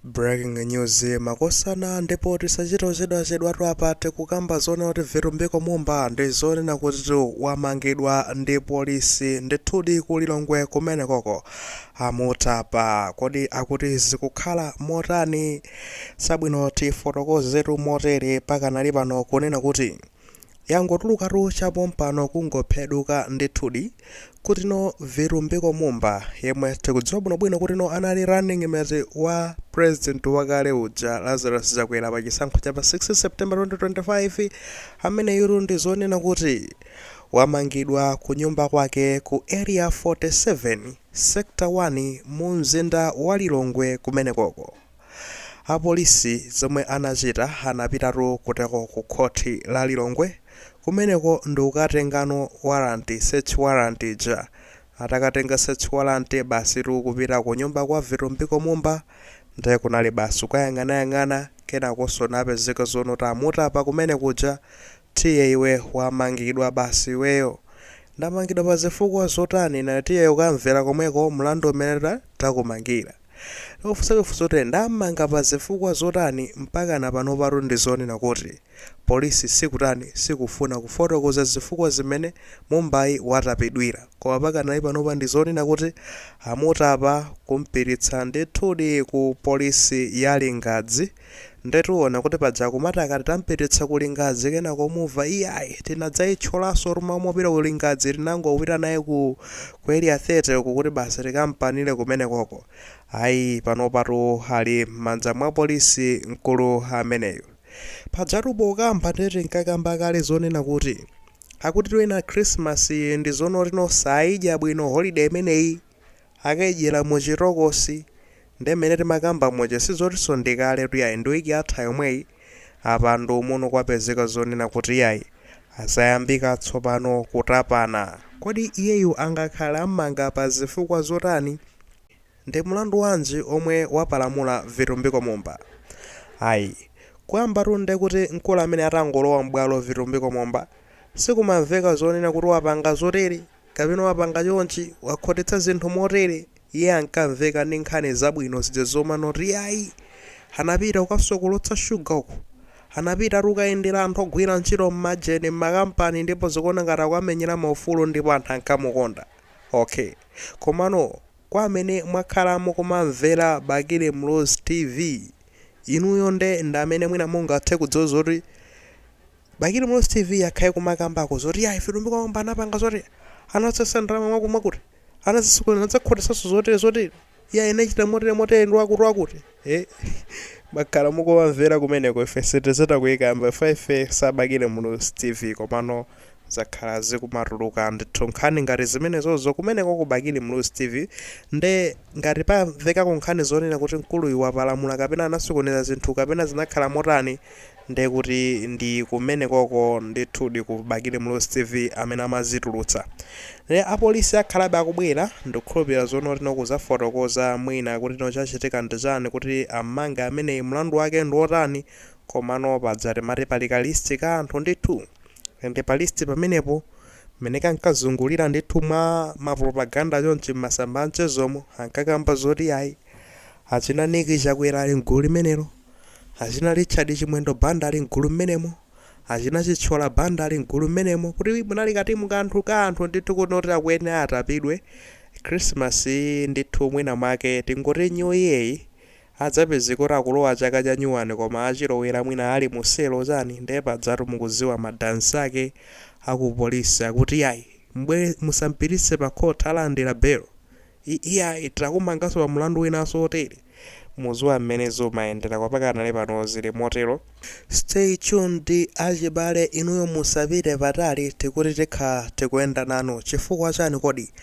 Breaking news makosana ndipo tisachite ochedwachedwatu apa tikukamba zoona kuti Vitumbiko Mumba ndi zoona kutitu wamangidwa ndi polisi ndithudi ku Lilongwe kumenekoko amutapa kodi akuti zikukhala motani sabwino tifotokozetu motere pakanali pano kunena kuti yangotulukatu cha pompano kungophweduka ndithudi kuti no Vitumbiko Mumba yemwe tikudziwa bwinobwino kuti no anali running mate wa president wakale uja Lazarus Chakwera pa chisankho cha pa 6 September 2025 ameneyutu ndi zoona kuti wamangidwa ku nyumba kwake ku area 47 sector 1 mu mzinda wa Lilongwe kumenekoko. Apolisi zomwe anachita anapitatu kuteko ku khoti la Lilongwe kumeneko ndikukatengano warrant, search warrant ija. Atakatenga search warrant basitu kupita kunyumba kwa Vitumbiko Mumba nde kunali basi kukayang'anayang'ana kenakonso napezeka zono tamutapa kumene kuja tiye iwe wamangidwa basi iweyo. Ndamangidwa pazifukwa zotani? Naa tiye ukamvera komweko mlandu umene takumangira. Akufunsafunsa kuti mwam'manga pa zifukwa zotani mpakana panopatu ndi zoona kuti polisi sikutani sikufuna kufotokoza zifukwa zimene Mumbayi watapidwira koma pakanali panopa ndi zoona kuti amutapa kumpititsa ndithudi ku polisi ya Lingadzi Ndetu muona kuti paja akumati akati tampititsa ku Lingadzi kenako mumva iyayi tinadzayitcholanso tu mmamopita ku Lingadzi tinangopita naye ku Area 30 uku kuti basi tikampanire kumenekoko. Ayi panopatu ali mmanja mwa polisi mkulu ameneyu. Pajatu pokamba nde tinkakamba kale zonena kuti akutitu ena Christmas iyi ndi zonoti sayidya bwino holiday imeneyi. Akayidyera mu chitokosi nde mmene timakamba muja sizotiso ndi kaletu iyayi ndi week yatha yomweyi apa ndi uno kwapezeka zonena kuti iyayi zayambika tsopano kutapana. Kodi iyeyu angakhale ammanga pa zifukwa zotani? Ndi mulandu wanji omwe wapalamula Vitumbiko Mumba? Ayi kuyambatu nde kuti mkulu amene atangolowa m'bwalo Vitumbiko Mumba sikumamveka zonena kuti wapanga zotere. kapena wapanga chonchi, wakhotetsa zinthu motere, iye ankamveka ndi nkhani zabwino zija zomanoti iyayi, anapita kukasokolotsa shuga uku, anapita tu kukayendera anthu ogwira ntchito m'majeni, m'makampani ndipo zikuoneka ngati akuwamenyera maufulu ndipo anthu ankamukonda. Okay. Komano kwa amene mwakhala mukumamvera Bakili Muluzi TV, inuyo nde ndi amene mwina mungathe kudziwa zoti. Bakili muluzi tv yakhala ikumakambako zoti yayi Vitumbiko Mumba anapanga zoti anatsesa ndalama mwakuti mwakuti anazisokoneza anazakhotesaso zotere zotere yayi anachita motere motere ndi wakuti wakuti ee mwakhala mukumamvera kumeneko ife sitizitha kuzikamba chifukwa ife sa bakili muluzi tv komano zakhala zikumatuluka ndithu nkhani ngati zimenezozo kumeneko ku bakili muluzi tv nde ngati pamvekako nkhani zonena kuti mkuluyu wapalamula kapena anasokoneza zinthu kapena zinakhala motani Nde kuti ndi kumenekoko ndithudi ku bakili muluzi tv amene amazitulutsa nde apolisi akhalabe akubwera ndikukhulupilira zoti no kuzafotokoza mwina kuti no chachitika ndi chani kuti amanga ameneyi mlandu wake ndi otani komano paja timati pali ka list ka anthu ndithu and pa list pamenepo mmene kankazungulira ndithu mwa ma propaganda chonchi mmasamba amchezomu ankakamba zoti ayi achina nick chakwera ali mgulu limenelo achina Richard Chimwendo Banda ali mgulu mmenemo, achina Chithyola Banda ali mgulu mmenemo, kuti munali katimu ka anthu ndithu kuti oti akuyenera atapidwe. Christmas iyi ndithu mwina mwake tingoti New Year iyi adzapezeka kuti akulowa chaka cha nyuwani koma achilowera mwina ali mu selo chani ndiye pajatu mukudziwa ma dansi ake a ku polisi akuti iyayi m'bwere musampititse pa court alandira belo. I- Iyayi takumanganso pa mlandu winanso wotere. Muziwa mmene zumayendera kwa pakanali pano zili motero. Stay tuned achibale inuyo musapite patali tikuti tikha tikuyenda nanu chifukwa chani kodi?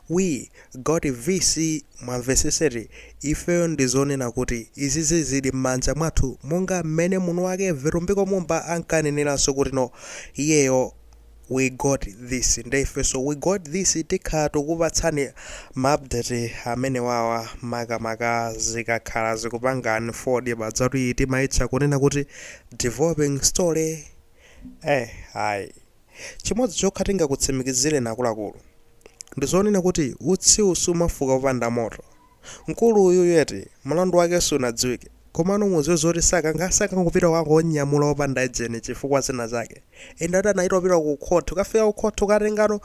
We got VC mwamvesesa eti ifeyo ndizonena kuti izizi zili mmanja mwathu monga mmene munuwake Vitumbiko Mumba ankaneneranso kuti no iyeyo we got this nde ifeso we got this tikhala tikukupatsani ma update amenewawa makamaka zikakhala zikupanga unfold pajatu iyi timaitcha kunena kuti developing story eh ayi chimodzi chokha tingakutsimikizireni akuluakulu ndizonena kuti utsiwu sumafuka popanda moto Mkulu uyuyu eti, mlandu wake sunadziwike. Komano mudziwe zoti sakankha, sakangopita kukangonyamula opanda ejeni chifukwa zina zake. Inde anayamba apita ku court, kukafika ku court kukatenga no,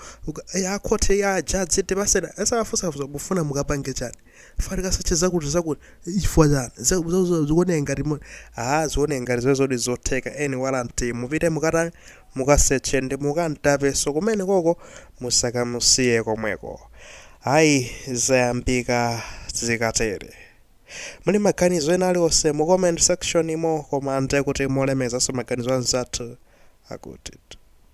ya court ya judge tipaseni, azawafunsa funso mufuna mukapange chani? Chifukwa tikasearch zakuti zakuti, chifukwa chani? Za za za zikuoneka ngati mu, aah zikuoneka ngati zimenezo zoti zotheka eni warrant mupite mukatani, mukasearche ndi mukamtapenso kumenekoko musakamusiye komweko. Ayi zayambika zikatere muli maganizo ena aliwonse mu comment section imo koma ndekuti molemekezaso maganizo anzathu akuti.